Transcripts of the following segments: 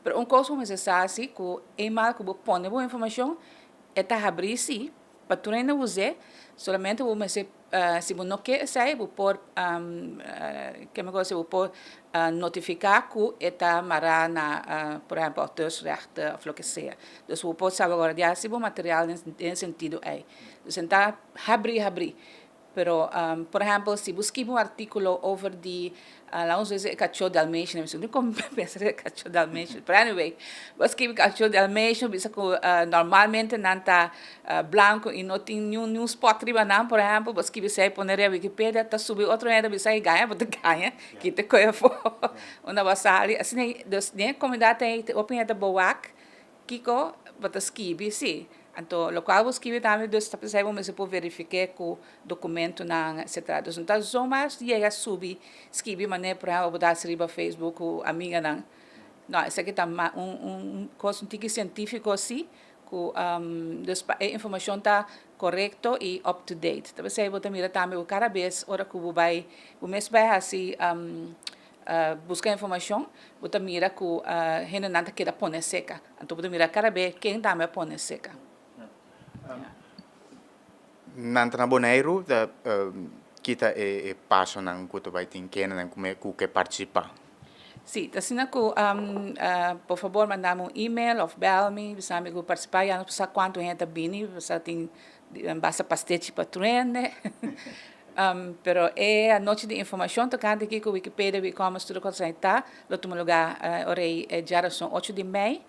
Pero un kos ku mester sa si ku e mal ku bo pone bo informashon e ta habri si pa tur hende us'é solamente bo mester si bo no ke esei bo por kende ku kose bo por notifiká ku e ta mará na por ehèmpel auteursrechten òf loke sea dus bo por salvaguardia si bo material den sentido ei. Pues nan ta habri habri Pero, por ehempel, si bo skirbi un artikulo over di, lanos bisa e kachó dalmation, mi siempre con pensa den e kachó dalmation, pero anyway, bo a skirbi kachó dalmation bisa ku normalmente nan ta blanko i no tin niun niun spot riba nan, por ehempel, bo a skirbi esei pone riba Wikipedia, ta subi otro hende a bisa e gaña, bo ta gaña, kita koe afó unda bo a sali. Asina, dus den e komunidat ei hopi hende ta bo wak. Kiko bo ta skibi? Sí. Anto lokual bo skibi ta ami, dus ta p'esei bo mester por verifik'é ku dokumentunan etsetera. Dus no ta zomaar yega subi skibi manera por ehèmpel bo ta hasi riba facebook ku amiganan. No, esaki ta un kos un tiki sientífiko así ku dus pa e informashon ta korekto i up to date. Ta p'esei bo ta mira tambe ku kada bes ora ku bo bai bo mes bai hasi. Buska informashon, bo ta mira ku hendenan ta keda pone seka. Anto bo ta mira kada be ken tambe a pone seka. Nan ta na Boneiru ta kita e pasonan ku ta bai tin kendenan ku ke partisipá. Sí, ta asina ku por fabor manda mi un email òf bèl mi, bisa mi ku partisipá, ya nos por sa kuantu hende ta bini, mi por sa tin Nan basa pa stechi pa truende. Pero e anochi di informashon tokante kiko Wikipedia, Wicommons, tur e kos asina ta, lo tuma lugá ora ei e djarason ocho di mei,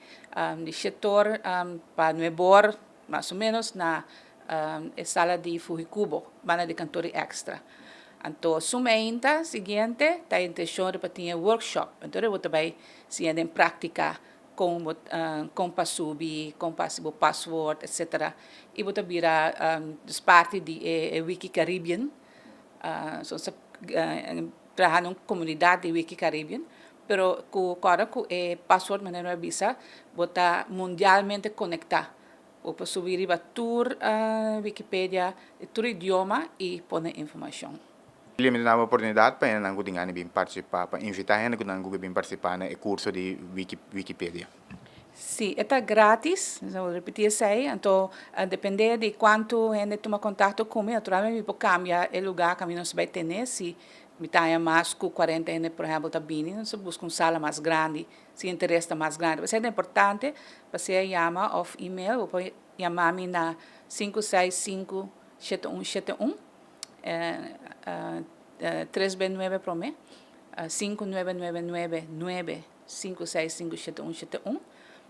di shet or pa nueb or mas o menos, na e sala di Fuhikubo, banda di kantor di Extra. Anto suma ainda siguiente ta e intenshon riba tin e workshop, anto riba bo ta bai siña den práktika Kon bo ta kon pa subi, kon pa hasi bo password, etc. I bo ta bira dus parti di e Wiki Caribbean. Nos ta traha na un komunidat di Wiki Caribbean, pero ku kòrda ku e password manera mi a bisa bo ta mundialmente konektá. Bo por subi riba tur Wikipedia di tur idioma i pone informashon. Biblia mi ta dal oportunidat pa hendenan ku tin gana di bin partisipá, pa invitá hende ku nan guga bin partisipá na e kurso di Wikipedia. Si e ta grátis, mi a repetí esei, anto a dependé di kuantu hende tuma kontakto ku mi, naturalmente mi por kambia e lugá ku mi nos bai ten'é. Si mi ta haña mas ku kuarenta hende por ehèmpel ta bini, nos a buska un sala mas grandi, si interes ta mas grandi. P'esei ta importante pa sea yama òf email. Bo por yama mi na sinku seis sinku shete un shete un. tres be nuebe prome sinku nuebe nuebe nuebe nuebe sinku seis sinku shete un shete un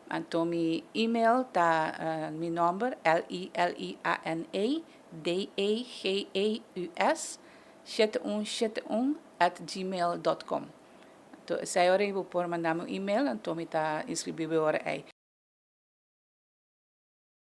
anto mi email ta mi nomber l-i-l-i-a-n-a d-a-g-a-u-s shete un shete un at gmail dot com anto esei ora y bo por manda mi un email anto mi ta inscribi bo ora ei.